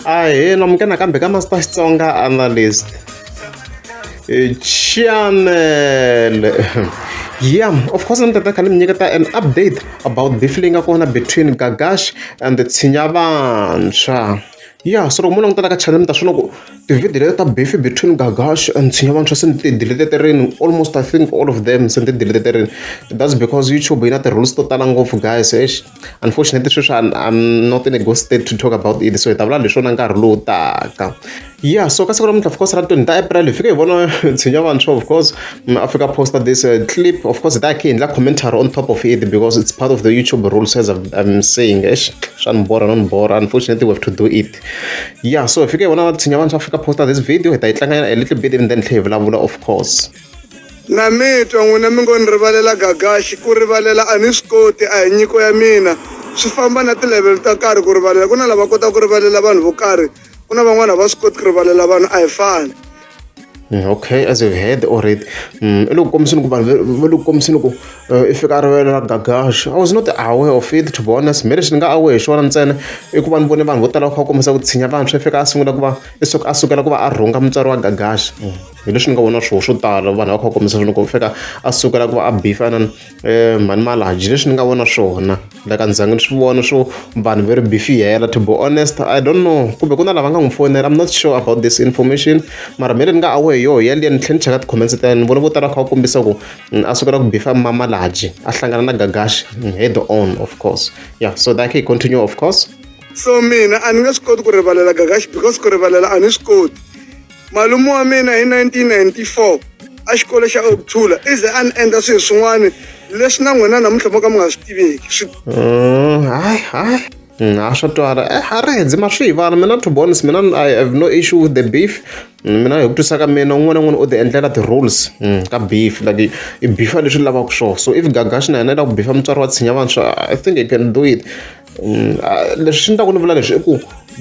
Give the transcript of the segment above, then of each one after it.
ahee namuke nakambe ka master xitsonga analyst eh, channel yeah of course ni tata khani mi nyiketa an update about beef leyi nga kona between gagash and tshinya vantshwa ya so loko mo langutela ka channel mi ta swona ku tivhidiyo leti ta beef between gagash and tshinya vantshwa se ni ti diliteterini almost i think all of them se ni ti diliteterini that's because youtube yi na ti-rules to tala ngopfu guys ex unfortunately sweswi I'm not in a good state to talk about it so hi ta vula leswona nkarhi lowu taka yeah so ka siku namuntlha of course ra twenty ta april hi fike hi vona tshinya vantshwa of course mm, africa poster this uh, clip of course hi ta khe hi endla commentary on top of it because it's part of the youtube rules as i'm saying esh swa ni bora no ni bora unfortunately we have to do it yeah so hi fike hi vona tshinya vantshwa africa poster this video hi ta yi tlanganyana a little bit and then tlhe hi vulavula of course Na mi twa, n'wina mi ngo ni rivalela gagaxi. Ku rivalela a ni swi koti, a hi nyiko ya mina. Swi famba na tilevhelo ta karhi ku rivalela. Ku na lava kotaka ku rivalela vanhu vo karhi, ku na van'wana a va swi koti ku rivalela vanhu, a hi fani. Mm, okay as you've heard already mm, i le ku kombiseni ku vanhu va le ku kombiseni ku eh, i fika a rivele ra gagaxa i was not aware of it to be honest me lexi ni nga aware hi xona ntsena i ku va ni vone vanhu vo tala va kha va kombisa ku tshinya vantshwa i fika a sungula ku va i suka a sukela ku va a rhunga mutswari wa gagaxa hi leswi ni nga vona swona swo tala vanhu va kha va kombisa loko u fika a sukela ku va a bifana um eh, mhani malaji leswi ni nga vona swona like a ndzangi ni swi vona swo vanhu va ri bifiyela to be honest i don't know kumbe ku na lava nga n'wi fonela i'm not sure about this information mara mele ni nga awe hi yoho yaliya ni tlhela ni cheka ti-comments ta yena ni vona vo tala kha va kombisa ku mm, a sukela ku bifa mamalaji a hlangana na gagashi mm, head on of course yeah so that can continue of course so mina a ni nge swi koti ku rivalela gagashi because ku rivalela a ni swi koti Malume wa mina hi 1994 exikolo xa Okuthula i ze a ni endla swilo swin'wana leswi na n'wina namuntlha mo ka mi nga swi tiveki swi Mm, hayi hayi Mm, ha swa twala eh ha ri ndzi ma swi hi vana mina to be honest mina i have no issue with the beef Mm, mina hi ku twisa ka mina un'wana na un'wana u ti endlela ti-rules mm, ka beef like i- i bifa leswi lavaka swona so if gagaxi na yena i lava ku bifa mutswari wa tshinya vantshwa i think i can do it Leswi ni ta ku ni vula leswi i ku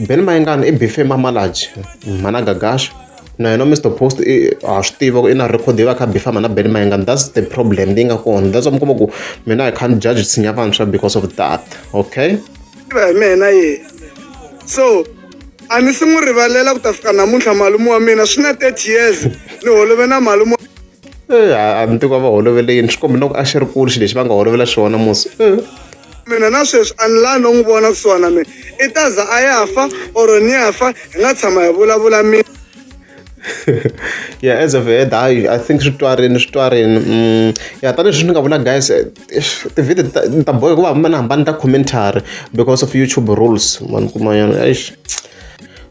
Benny Mayengani i beef-e hi Mamaladzi, mhana Gagaxa. Na yena Mister Post i ha swi tiva ku i na record yo va a kha a beef-a mhana Benny Mayengani, that's the problem leyi nga kona. That's why mi kuma ku mina I can't judge nsinya vantshwa because of that, okay. Tiva hi mehe na yehe, so a ni se n'wi rivalela ku ta fika namuntlha malume wa mina swi na thirty years ni holove na malume wa. a ni tiko va holovele yini swi kombe na ku a xi ri kulu xi lexi va nga holovela xona musi mina na sweswi a ni laha no n'wi vona kusuhana mina i ta za a ya fa or ni ya fa hi nga tshama hi vulavula mina yeah as of head i i think swi twarini swi twarini mm, ya tanihileswi ni nga vula guys eh, tivhidi ni ta boheka ku va hambana hambana ta commentary because of youtube rules vanhu kumayana eish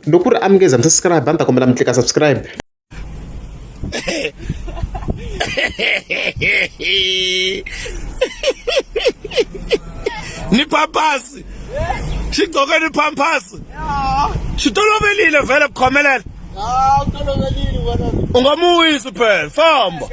loko ku ri amukeza mi subscribe a ni ta kombela mi tlika subscribe ni pampasi xi gcoke ni pampasi xi toloverile vhele ku khomelela u nga mu wisi phela famba